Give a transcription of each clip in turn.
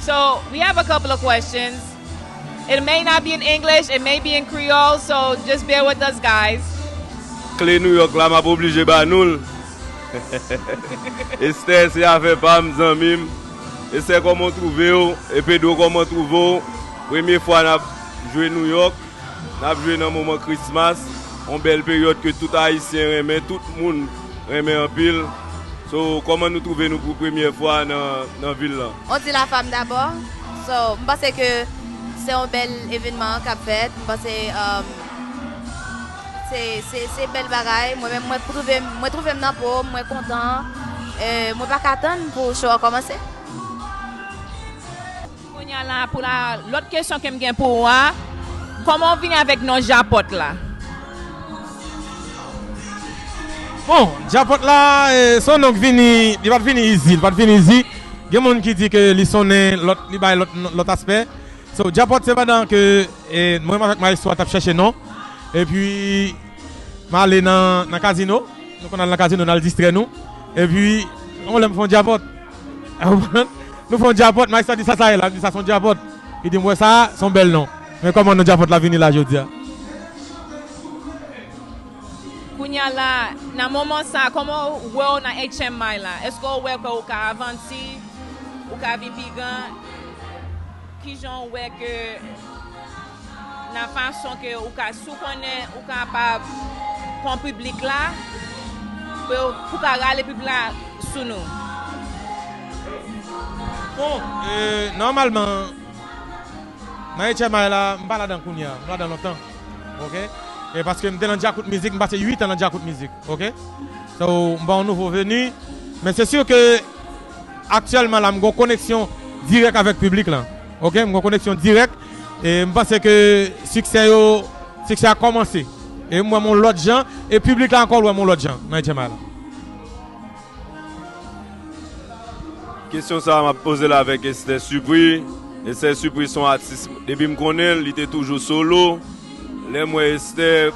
So we have a couple of questions it may not be in English it may be in Creole so just bear with us guys. Kle New York la map oblije ba nou l Esther se afè pam zanmi m Esther koman w trouve w e Pedro koman w trouve w premye fwa nap jwe New York. Nap jwe nan moman Christmas, yon bèl peryòd ke tout Ayisyen renmen, tout moun renmen anpil. So, kòman nou twouve nou pou premyè fwa nan vil lan? On dit la femme d'abord, so m panse ke se yon bèl evenman kap fèt, m panse se bèl bagay, mwen menm mwen twouve m, mwen twouve m nan po m, mwen kontan, mwen paka tann pou show an kòmanse. Kounya la pou la lòt kesyon kem gen pou ou a Kòman ou vini avèk non Japòt la? Bon Japòt la son non k vini li pat vini izi li pat vini izi gen moun ki di ke li sonnen lòt li bay lòt aspè so Japòt se pandan ke mwen menm avèk Maestro a tap chèche non epi m ale nan kazino nou konn al nan kazino nal distrè nou epi yon lè m fon Japòt. Nou fè yon djapòt, Mike sa di sa sa ye la, m di sa son djapòt, li di m wè sa a, son bèl non. Men kòman non djapòt la vini la jodi a. Kounya la, nan moman sa a, kòman w wè w nan HMI la? Èske w wè ke ou ka avandi, ou ka vin pi gran? Kijan w wè ke. nan fason ke ou ka si w konnen ou kapab pran piblik la pou yo pou ka rale piblik la sou nou. Bon e nòmalman nan HMI la m pa ladan kounye a m ladan lontan ok e paske m te nan djakout mizik m pase 8 an nan djakout mizik ok so m pa yon nouvo veni men se sur ke Aktyèlman la m gon koneksyon dirèk avèk piblik lan ok m gon koneksyon dirèk e m panse ke siksè yo siksè a kòmanse e m wè m yon lòt jan e piblik la ankò wè m yon lòt jan nan HMI la. Kesyon sa map pozel avèk Esther Supri, Esther Supri son atis depi m konnen l li te toujou solo lèm wè Esther.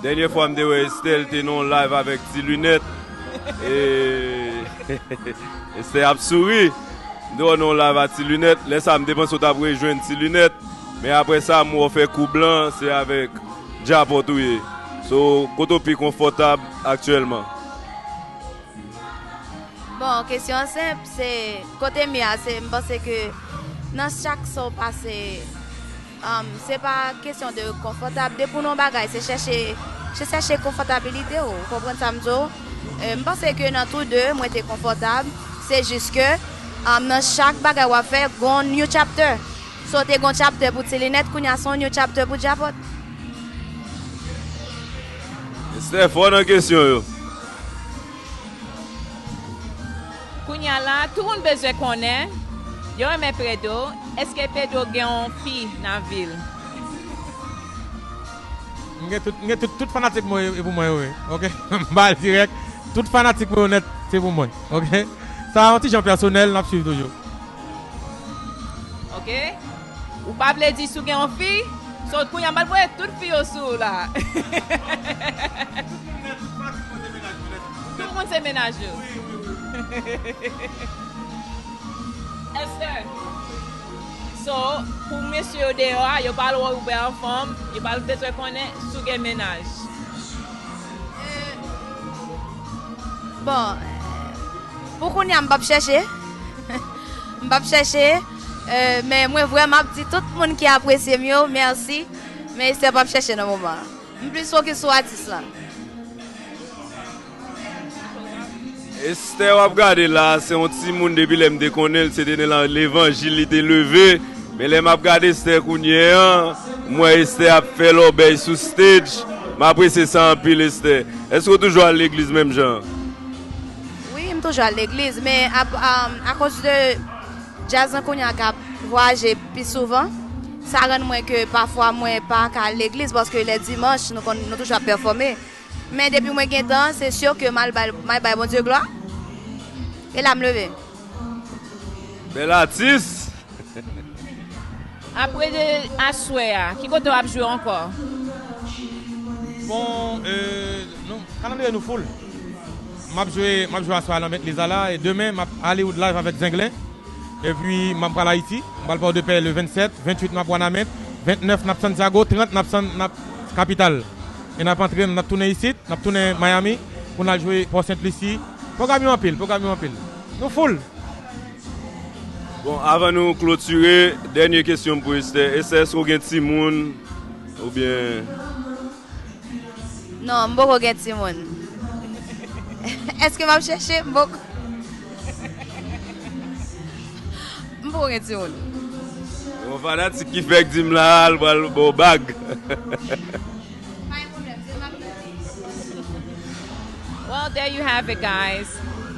Dènye fwa m te wè Estelle te nan yon live avèk ti lunèt e Estelle ap souri m te wè w nan yon live a ti lunèt lè sa m te panse w tap rejwenn ti lunèt men aprè sa m wè w fè kou blan se avèk djapòt ou ye so kote w pi konfòtab aktyèlman. Bon kesyon an senp se kote m ye a se m panse ke nan chak sa w pase Se pa kesyon de konfòtab. Depi w nan yon bagay se chèche, se chèche konfòtabilite w. Ou konprann sa m di w? M panse ke nan tou de mwen te konfòtab. Se jis ke nan chak bagay w ap fè gon yon new chapter. So te gon chapter pou ti linèt kounye a se yon new chapter pou djapòt. Esther fò nan kesyon yo. Kounya la tout moun bezwen konnen yo renmen Pedro eske Pedro gen yon fi nan vil. M gen tout m gen tout tout fanatik mwen yo e pou mwen yo ye ok m bal dirèk tout fanatik mwen yo nèt se pou mwen ok sa yon ti jan pèsonèl nap swiv toujou. Ok ou pa vle di si w gen yon fi so kounya m bal voye tout fi yo sou ou la. Tout moun se mennaj yo. So pou mesye yo deyò a yo pa al wè w bè anfòm, yo pa bezwen konnen si w gen mennaj. Bon pou kounya m pap chèche, m pap chèche men mwen vrèman ap di tout moun ki apresye m yo mèsi men Esther pap chèche nan moman an. M plis focus sou atis lan. Esther wap gade la se yon timoun depi lèm te konnenl se te nan levanjil li te leve men lèm ap gade Esther kounye an m wè Esther ap fè lòbèy sou stage m apresye sa anpil Esther eske ou toujou al legliz menm jan an? Wi m toujou al legliz men akoz de Djaz lan kounya ka vwaje pi souvan, sa rann mwen ke pafwa mwen pa ka al legliz paske lè dimanch nou konn nou toujou ap pèfòme men depi mwen gen tan se sur ke mal bay mal bay Bondye glwa e la m leve. Bel atis! Apre de aswè a, ki kote wap jwe ankò? Bon, nou, kalandriye nou full. Map jwe map jwe aswè a nan met leza la e demen map Hollywood live avèk zenglen epi map pral ayiti m pral pòdepè le 27 28 map wanament 29 nap santiago 30 nap san nap kapital e nap antre nap tounen isit nap tounen miami pou nal jwe pò sent lusi pwogram yo anpil pwogram yo anpil nou full. Bon avan nou klotire dènye kesyonm pou Esther Esther èske ou gen timoun oubyen. Non m poko gen timoun. Eske map chèche? M poko M poko gen timoun. Yon fanatik ki fèk di m la a l pral ba w bag. Pa gen pwoblèm, di l map redi. Well there you have it guys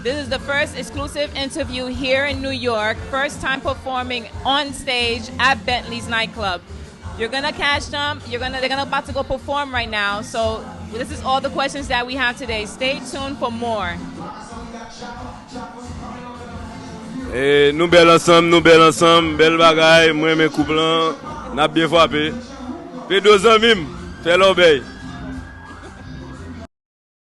this is the first exclusive interview here in New York first time performing on stage at Bentley's Night Club. You're gonna catch them, you're gonna, they're gonna about to go perform right now, so this is all the questions that we have today, stay tuned for more. Eh, nou bèl ansanm, nou bèl ansanm, bèl bagay, mwen men koup lan, nap byen fwape. Pedro zanmim, fè lòbèy.